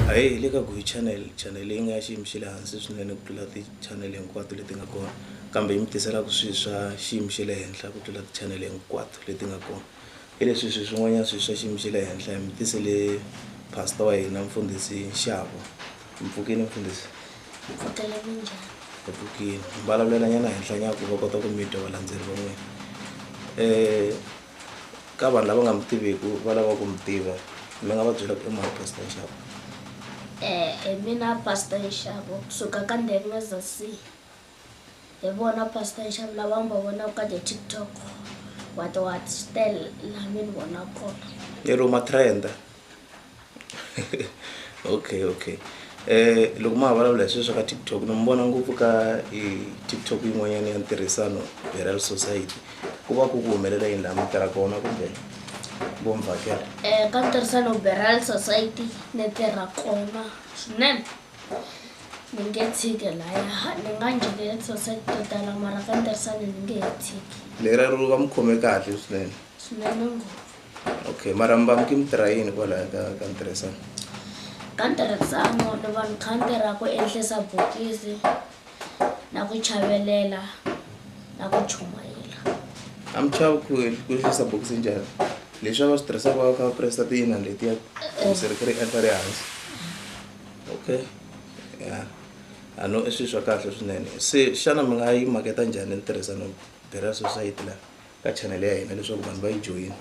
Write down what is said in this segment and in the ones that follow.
A hi hi le ka Guy Channel, channel leyi nga ya xiyimo xa le hansi swinene ku tlula ti-channel hinkwato leti nga kona kambe yi mi tiselaku swi swa xiyimo xa le henhla ku tlula ti-channel hinkwato leti nga kona. Hi leswi swi swin'wanyana swi swa xiyimo xa le henhla hi mi tisele pastor wa hina mfundhisi Nxabo. Mi pfukini mfundhisi? Hi pfukile minjhani? Hi pfukile. Hi mbalavulela nyana henhla nyana ku va kota ku mi twa valandzeri va n'wina. ka vanhu lava nga mi tiviku va lava ku mi tiva mi nga va byela ku i mani pastor nxavo eh hi mina pastor nxavo kusuka ka ndengeza c hi vona pastor nxavo lava mi va vonaka ka ti-tiktok what what swi tele laha mi ni vona kona lero matrenda okay okay eh loko ma ha vulavula hi swilo swa ka TikTok ni n'wi vona ngopfu ka hi TikTok yin'wanyana ya ntirhisano Beryl Society ku va ku ku humelela yini laha mi tirha kona kumbe vo mi vhakela Eh, ka ntirhisano Beryl Society ni tirha kona swinene ni nge tshiki laya ni nga ngheni ka society to tala mara ka ntirhisano ni nge he tshiki lera ro va mi khome kahle swinene swinene ngopfu okay marambam ke mitira yini kwalaya ka ka ntirhisano ka ntirhisano ni va ni kha ni tirha ku endlisa bokisi na ku chavelela na ku chumayela a mi chava ku ku endlisa bokisi njhani leswi a va swi tirhisaka va kha va presa tiyina letiya bokisi ri kha ri endla ri hansi okay ya a no i swilo swa kahle swinene se xana mi nga yi maketa njhani ntirhisano bira society laha ka channel ya hina leswaku vanhu va yi joyina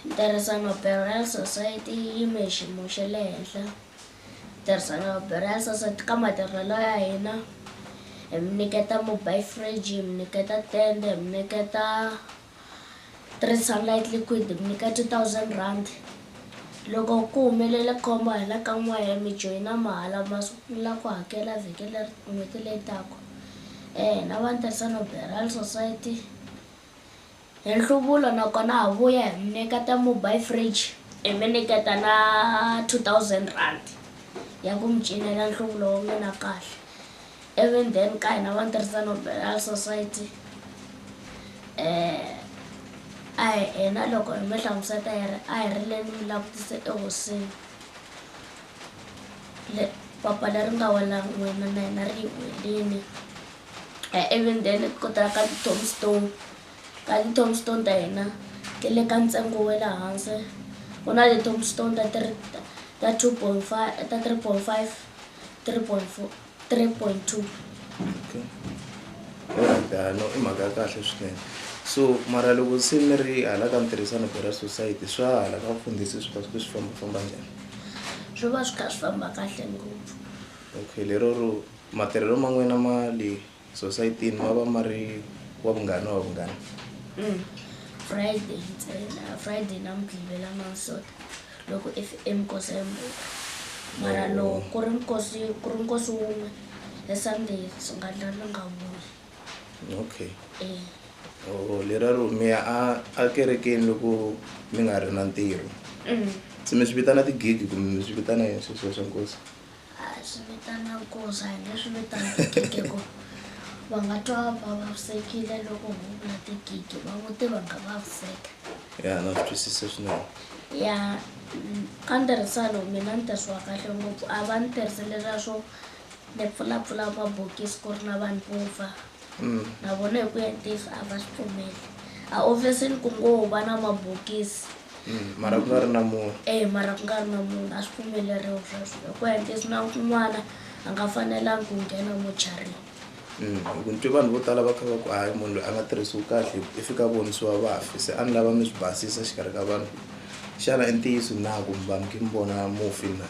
ntirhisano burial society yi yime hi xiyimo xa le henhla ntirhisano burial society ka matirhelo ya hina hi mi nyiketa mobile fridge hi mi nyiketa tende hi mi nyiketa three sunlight liquid mi nyika two thousand rand loko ku humelele khombo hi la ka n'we ya mi joyina mahala ma sungula ku hakela vhiki leri n'hweti leyi taka um na va ni tirhisano beral society hi nhluvulo nakona ha vuya hi mi nyiketa mobile fridge hi mi nyiketa na two thousand rand ya ku mi cinela nhluvulo wa n'wina kahle Even then ka hina va ntirhisano Burial Society eh a hi hina loko hi mi hlamuseta hi ri a hi ri le ni mi langutise ehosini le papa leri nga wela n'wina na hina ri hi welini eh even then ku ta ka ti-tombstone Ti-tombstone ta hina ti le ka ntsengo wa le hansi. Ku na ti-tombstone ta three ta two point five ta three point five, three point four, three point two. Okay. Ya no i mhaka ya kahle swinene. So mara loko se mi ri hala ka mitirhisano Bera Society swa hala ka vufundhisi swi va swi fambafamba njhani? Swi va swi kha swi famba kahle ngopfu. Okay lero ro matirhelo ma n'wina ma le. Sosayitini ma va ma ri wa vungani wa vungani? Mm. Friday ntsena, Friday na Mugqivela Mansota loko if i mikosi ya mbhulu. Mara Oh. loko ku ri mikosi ku ri nkosi wun'we hi Sunday swi nga ndla ni nga vuyi. Okay. Eh. Oh, lera ro mi ya a a kerekeni loko mi nga ri na ntirho. Mm. Se mi swi vitana ti-gig kumbe mi swi vitana yini sweswiya swa nkosi? A hi swi vitana goza hi nge swi vitana gidi hi ku va nga twa va vavisekile loko ho vula tigidi va muti va nga vaviseka ya na swi twisise swinene ya mm, ka ntirhisano mina ni tirhisiwa kahle ngopfu a va ni tirhisi leswiya swo ni pfulapfula mabokisi ku ri na vanhu vo fa Mm. na vona hi ku ya ntiyiso a va swi pfumeli a ofisini ku ngo va na mabokisi Mm, mara ku nga ri na munhu e mara ku nga ri na munhu a swi pfumeleriwa sweswo ku endlesi na kun'wana a nga fanelangi ku nghena mocharini mm, hi ku ni twe vanhu vo tala va kha va ku hayi munhu loyi a nga tirhisiwi kahle i fika vonisiwa vafi se a ni lava mi swi basisa xikarhi ka vanhu xana i ntiyiso na kumbe vanhu ki mi vona mufi na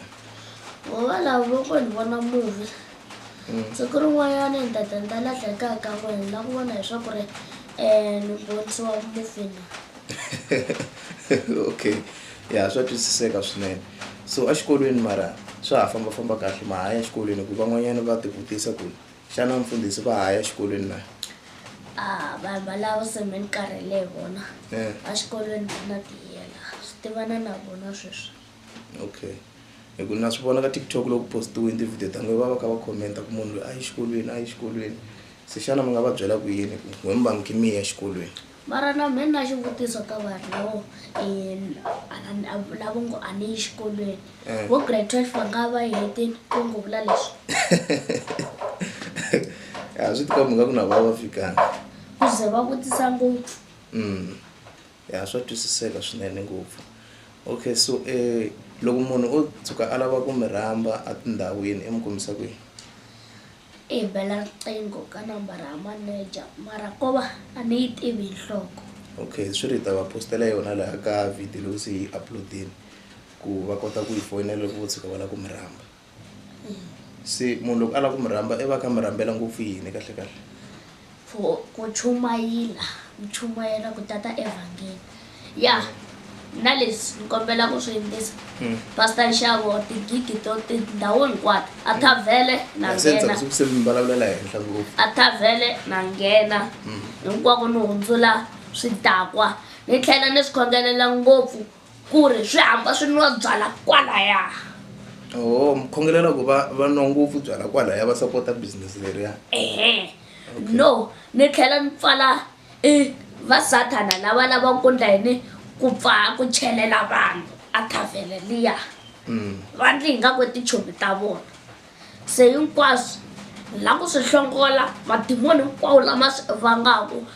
ngo valavo ko ni vona muvi Mm. siku rin'wanyana ni ta ta ni ta lahleka kaya ka n'wina ni la ku vona hi swa ku ri um ni vonisiwa mufi na okay ya swa twisiseka swinene so exikolweni mara swa ha fambafamba kahle ma ha ya exikolweni hikuva van'wanyana va tivutisa ku xana mfundhisi va ha ya exikolweni na a vanhu valavo se me ni karhele hi vona Eh. exikolweni va na tiyela swi tivana na vona sweswi okay hi ku na swi vona ka tiktok loko postiwini ti-video ta n'we va va kha va commenta ku munhu loyi a yi xikolweni a yi xikolweni se xana mi nga va byela ku yini ku n'we mbangi ki miya exikolweni mara na mina na xivutiso ka vanhu lavo um lavo ngo a ni yi xikolweni eh. vo grade twelve va nga va hetini ku ngo vula leswi a swi tikombi nga ku na va va fikanga ku ze va vutisa ngopfu mm. Ya swa twisiseka swinene ngopfu okay so um loko munhu o tshuka a lava ku mi rhamba atindhawini i mi kumisa kwihi i bela riqingho ka nambara ya manager mara ko va a ni yi tivi hi nhloko okay swi ri hi ta va postela yona laha ka video leyi se yi upload-ini ku va kota ku yi foyinela loko vo tshuka va lava ku mi rhamba se munhu loko a lava ku mi rhamba i va ka mi rhambela ngopfu yini kahle kahle for ku chumayela mi chumayela ku tata evhangeli ya na leswi ni kombela ku swi yingisa Mm. pastor nxavo tigigi to tindhawu hinkwato a thavhele na Ya, se nghena ntsakisa ku se mi vulavula la henhla ngopfu a thavhele na nghena Mm. hinkwako ni hundzula swidakwa ni tlhela ni swi khongelela ngopfu ku ri swi hamba swi nwa byala kwalaya o mukhongelela ku va va nwa ngopfu byala kwalaya va sapota business leriya ehe no ni tlhela ni pfala i va sathana lava lavaka ku ndla yini ku pfaa ku chelela vanhu a thavhele liya va ndli hi nga ku tichomi ta vona se hinkwaswo la ku swi hlongola madimoni hinkwawo lama swi vangaku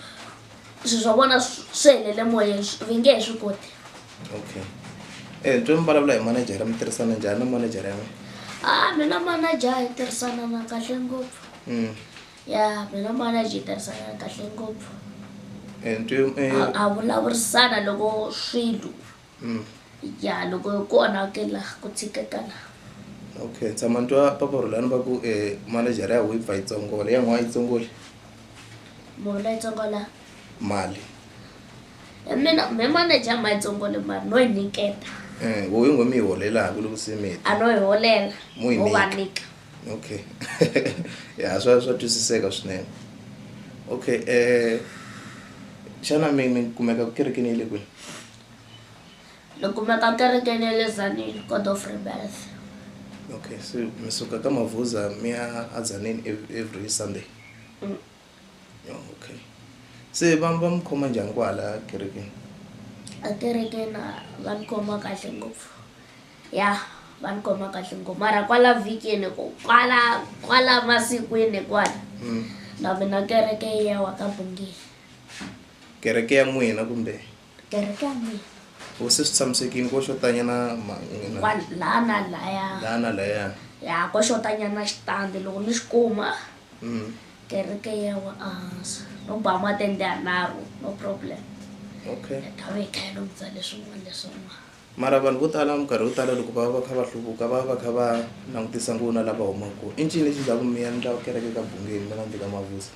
swi swa vona swi helele moyeni vi nge he swi koti okay um twe mi vulavula hi manajara mi tirhisana njhani na manajara ya n'wina a mina manaja hi tirhisana na kahle ngopfu mm. ya mina manaja hi tirhisana na kahle ngopfu eh, eh, a vulavurisana loko swilo mm. ya loko ku onhakela ku tshikekana okay tshama ntwa papa rulani va ku eh, manejara ya wifa yi tsongola ya n'wana yi tsongoli mona yi tsongola mali e mina me maneja ma yi tsongole mali no yi niketa eh, wo yi ngo mi yi holelaka loko se mi a no yi holela o va nika okay ya swa swa twisiseka swinene okay um xana mi mi kumeka ku kerekeni yi le kwini ni kumeka kerekeni ya le zanini god of rebirth okay so mi suka ka mavhuza mi ya azaneni every sunday mm. oh, okay se va va mi khoma njhani kwahala kerekeni akerekeni va ni khoma kahle ngopfu ya va ni khoma kahle ngopfu mara kwala vhikini ku kwala kwala masikwini kwala mm. na mina kereke ya wa ka bungile kereke ya n'wina kumbe kereke ya mina u se swi tshamisekile ko xotanyana mangina wa laha na laya laha na layana ya ko xotanyana xitandi loko ni xi kuma Mm. kereke ya wa ehansi no ba matende yanharhu no problem okay ya ta va yi kha yi lunghisa leswin'wana leswin'wana mara vanhu vo tala minkarhi yo tala loko va va va kha va hluvuka va va va kha va langutisa nguna lava humaka kona i ncini lexi ndzaku miya ni ndla kereke ka bungeni va nga ndzi ka mavusa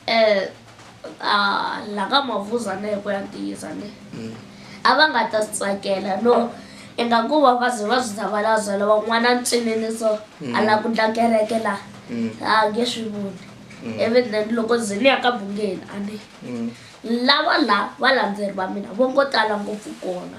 Eh, ah, la ka mavuzane hi ku ya ntiyiso ni a va nga ta swi tsakela no ingaku va va ze va swi zavalazela van'wana ntsinini so a la ku ndla kereke la a nge swi voni ivi then loko ze ni ya ka bungeni a ni lava la valandzeri va mina vo ngo tala ngopfu kona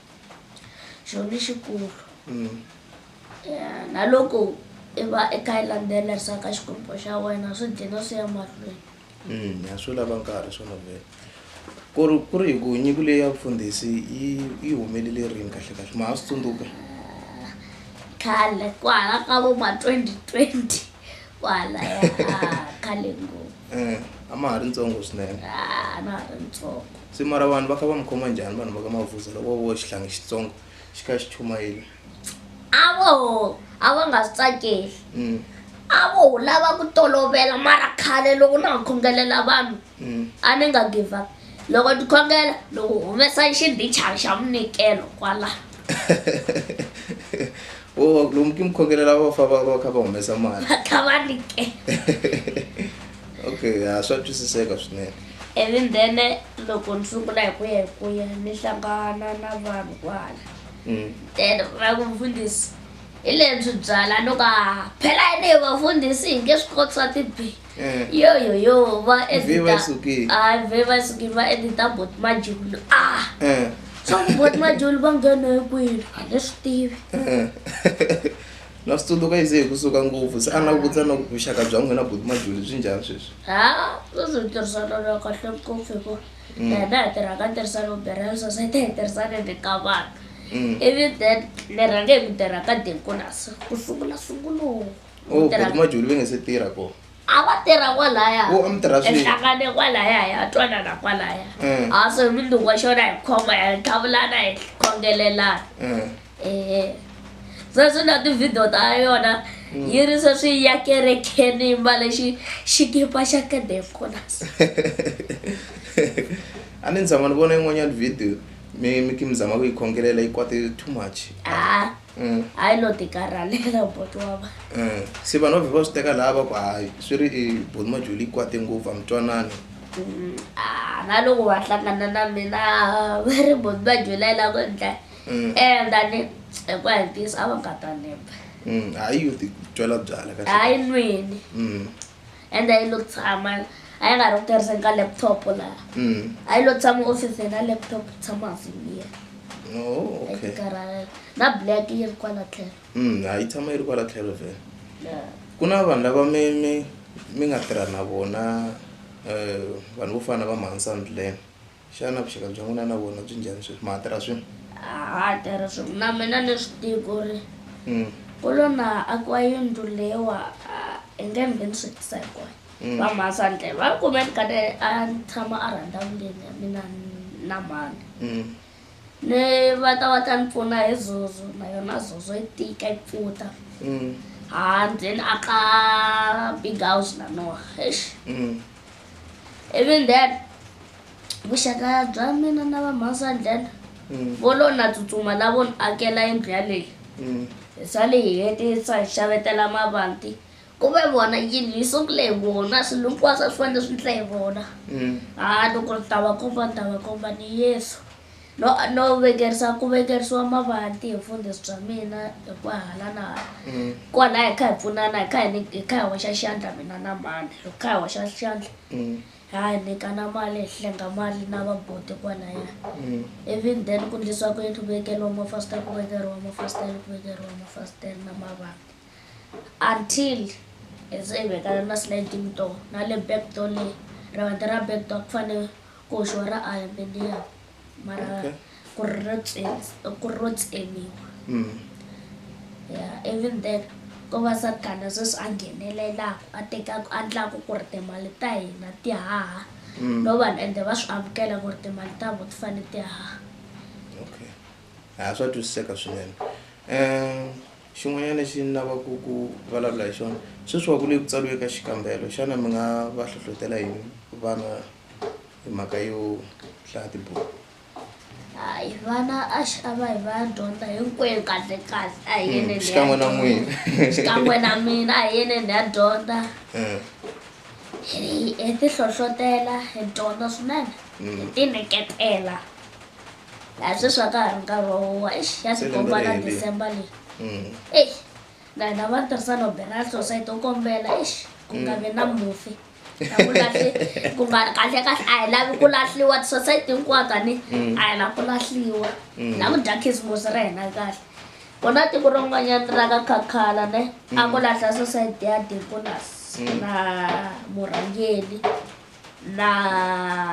xilo lexikulu mm. ya na loko i va i kha i landzelerisa ka xikwembu xa wena swi dlina swi ya mahlweni mm, a swi lava nkarhi swona vele ku ri ku ri hi ku nyiko leyi ya vufundhisi yi yi humelele rini kahle kahle ma ha swi tsundzuka khale ku hala ka vo ma twenty twenty kwala ya ha khale ngopfu Eh, a ma ha ri ntsongo swinene Ah, na ha ri ntsongo se mara vanhu va kha va mi khoma njhani vanhu va ka mavuza loko vo xihlangi xitsongo xi kha xi chumayile a vo a va nga swi tsakeli Mm. a vo lava ku tolovela mara khale loko na ha khongelela vanhu a ni nga give up loko ni khongela ni ku humesa xindichana xa munikelo kwala o lomu ki mukhongela lava va fa va va kha va humesa mali va kha va nikela okay ha swa twisiseka swinene even then loko ni sungula hi ku ya hi ku ya ni hlangana na vanhu kwala mm. then va ku mfundhisi hi lebyi byala ni ka phela yini hi vafundhisi hi nge swi koti swa tibibi Eh. yoyoyo va Vhe vha sukile. editahayi vhe va sukile va edita bot majulu ah Eh. swa ku bot majulu va nghena hi kwini a ni swi tivi Eh. na swi tsundzuka yi se hi kusuka ngopfu se a na vutisa na ku vuxaka bya n'wina buti majuli byi njhani sweswi ha sweswi hi tirhisana na kahle ngopfu hikuva Mm. hina hi tirha ka tirhisano bera sosayiti hi tirhisane ni ka vanhu Mm. ivi then ni rhange hi ku tirha ka dekolas ku sungula sunguloko o Tirha- boti majuli ve nge se tirha ko a va tirha kwalaya O, a mi tirha swin'we. ehlangane kwalaya hi ya twanana kwalaya Mm. a so hi mindzuku wa xona hi khoma hi tlhavulana hi khongelelana Eh, ehe sweswi na tivhidiyo ta yona Mm. yi ri sweswi ya kerekeni mba lexi xikipa xa kadefonas a ni ni tshama ni vona yin'wanyana video mi mi ki mi zama ku yi khongelela yi kwate too much a Mm. hayi lo tikarhalela boti wa va Eh, se vanhu va vhe va swi teka laha va ku hayi swi ri i boni majuli yi kwate ngopfu a mi twanani Mm, ah, na loko va hlangana na mina ah, va ri boti va julela ku ndla Mm. um tani hikuva hi ntiyiso a va nga ta nemba Mm, hayi yo ti twela byala kahle hayi nweni Mm. and a yi lo tshama a yi nga ri ku tirhiseni ka laptop laha mm. a yi lo tshama ofisini na laptop tshama hansi liya oh, ekaralelo na black yi ri kwala tlhelo mm, a yi tshama yi ri kwala tlhelo vhele ku na vanhu lava mi mi mi nga tirha na vona um vanhu vo fana na va mahansandlene Xana vuxaka bya n'wina na vona byi njhani sweswi? Ma ha tirha swin'we? A ha ha tirhi swin'we. Na mina ni swi tiva ku ri Mm. ku lo na akiwa yindlu leyiwa a hi nge ni nge ni swi tisa hinkwayo. Mm. Va Mhasandlela va kume ni kade a ni tshama a rhandavuleni ya mina ni- na mhani. Mm. Ni va ta va ta ni pfuna hi zozo na yona zozo yi tika yi pfuta. Mm. Handle ni aka big house na noho. Eish! Mm. even then vuxaka bya mina na vamhansandlela mm. vo lo na tsutsuma lavo ni akela yindlu yaleyi mm. hi sale hi hetisa hi xavetela mavanti ku ve vona yindlu yi sungule hi vona swilo hinkwaswo a swi fanele swi ndla hi vona mm. a loko ni ta va komba ni ta va komba ni yesu No, no vekerisa ku vekerisiwa mavanti hi vufundhisi bya mina hi ku hala na hala Mm. kwalaho hi kha hi pfunana hi kha hi ni- hi kha hi hoxa xandla mina na mhani hi kha hi hoxa xandla Mm. ha hi nyikana mali hi hlenga mali na vaboti kwalaya Mm. even then ku ndlisiwa ku yini ku vekeriwa mafasitele ku vekeriwa mafasitele ku vekeriwa mafasitele na mavanti until hi se hi vekana na sliding door na le back door leyi rivanti ra back door ku fanele koxo ra aluminium mara Okay. ku ri ro tsemi- ku ri ro tsemiwa Mm. yeah even then ko va sathana sweswi a nghenelelaku a tekaku a ndlaku ku ri timali ta hina ti haha Mm. no vanhu ende va swi amukela ku ri timali ta vo ti fane ti haha okay ha swa twisiseka swinene um xin'wanyana lexi ni lavaka ku ku vulavula hi xona sweswi wa ku le ku tsariwe ka xikambelo xana mi nga va hlohlotela yini vana hi mhaka yo hlaya tibuku hayi vana a xi a va hi va ya dyondza hinkwenu kahle kahle a hi yeneni hi ya xikan'we na dyondza. n'wina xikan'we na mina a hi yeneni hi ya dyondza Eh, hi hi ti hlohlotela hi dyondza swinene Mm. hi ti nyiketela laha sweswi a ka ha ri nkarhi wa huwa exi ya Se lembe tikomba ri na herile. december leyi mm. exi na hina va tirhisano benal society u kombela exi ku nga vi na mufi ku nga kahle kahle a hi lavi ku lahliwa tisosayiti hinkwato ani mm. a hi lavi ku lahliwa mm. na ku dya khisimusi ra hina kahle ku na tiko rin'wanyana ra ka khakhala ne a ku mm. lahla sosayiti ya deconas na murhangeli na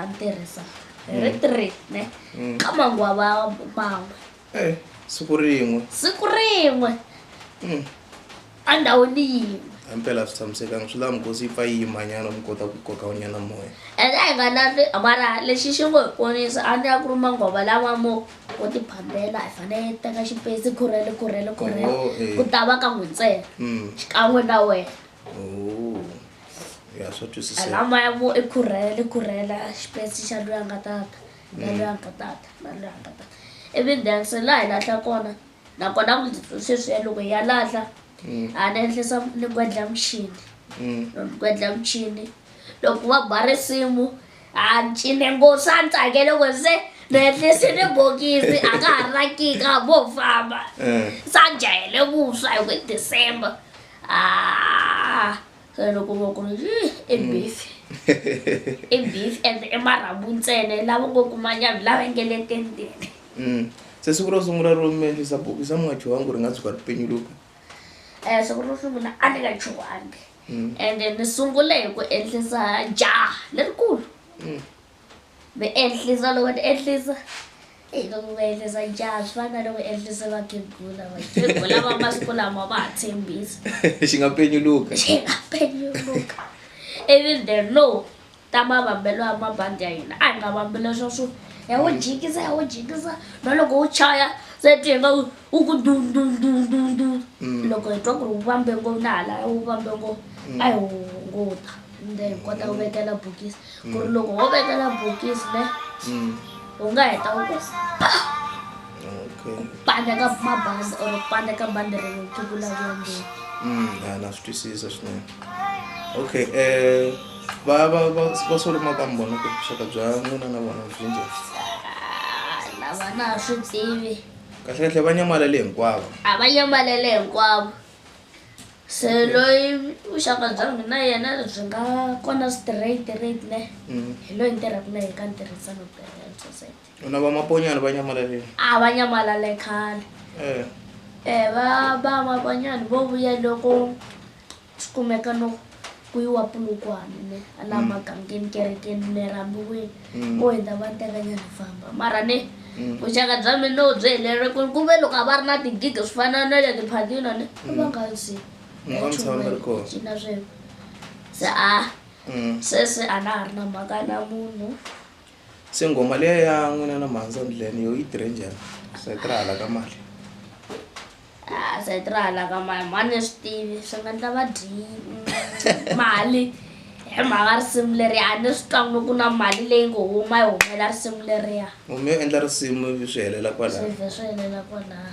ntirhisa hi ri three ne ka manguva va man'we Eh, siku rin'we siku rin'we Mm. endhawini yin'we himpela a swi tshamisekanga swi lava mikosi yi pfa yi yimanyana mi kota ku koka unyana moya ende a hi nga na le- mara lexi xi ngo hi ponisa a ni ya ku ri mangova lawa mo wo ti phambela hi fanele hi teka xipesi khurhele khurhele khurhele Oh, eh. ku ta va ka n'wi ntsena Mm. xikan'we na wena Oh. ya swa twisiseka lamaya mo i khurhele khurhela xipesi xa loyi a nga tata Ngalwanka tata, ngalwanka tata. Ivi ni dense laha hi lahla kona nakona ku sweswiya loko hi ya lahla a ni endlisa ni gwedla muchini loko ni gwedla muchini loko va ba risimu a ni cine nghozi a ni tsakele ku se ni endlise ni bokisi a ka ha ri na kika a vo famba se a ni jahele vuswa hi ku december a se loko va ku ri "Yih, i Mm. beef i beef and i marhambu ntsena i lava ngo kuma nyama lava nge le tendeni Mm. se siku ro sungula ro mi endlisa bokisi a mi nga chuhangi ku ri nga tshuka ri penyuluka um siku ro sungula a ni nga chuhangi Mm. ende ni sungule hi ku endlisa jaha lerikulu Mm. Mi endlisa loko ni endlisa eyi loko mi endlisa njhani swi fana na loko endlise vakhegula vakhegula va masiku lama va ha tshembisa xi nga penyuluka xi nga penyuluka even the law ta mavambelo ya mabandi ya hina a hi nga vambi leswa swo ya wo jikisa ya wo jikisa na loko wu chaya se ti hi nga wu wu ku dundundundundu mm. loko hi twa ku ri wu vambe ngopfu na halaya wu vambe ngopfu mm. a hi hunguta then hi kota ku vekela bokisi ku ri loko ho vekela bokisi ne u nga heta u ku okay ku pandeka mabandi or ku pandeka bandi ri ku vulavula ngeni mm ya na swi twisisa swinene okay eh va va va va solo makambo na ku xaka bya n'wina na vona byi njhani Ah, lava na ha swi tivi kahle kahle va nyamalele hinkwavo a va nyamalele hinkwavo se loyi vuxaka bya mina na yena byi nga kona straight rate ne mm. hi loyi ni tirhaka na yena ka ntirhisano u na vamaponyana va nyamalaleni a va nyamalale khale eh. eh va va maponyana vo vuya loko swi kumeka no ku yiwa pulukwane ne a laha mm. magangeni kerekeni ne rambiweni mm. vo hundza va tekanya ri famba mara ne mm. vuxaka bya mina no byi helele ku ku ve loko a va ri na tigigi swi fana na le tiphatina ne a va nga zi cina sweswo se a sweswi a na ha ri na mhaka na munhu se nghoma leya ya n'wina na mhandza ndlene yo yi tirhe njhani swi tirha hala ka mali Ah sayiti ra hala ka mani mhani ni swi tivi swi nga ndla va dyiyi mali hi mhaka risimu leriya a ni swi twangi ku na mali leyi ngo huma yi humela risimu leriya humi yo endla risimu swi helela kwalaho swi vhe swi helela kwalaho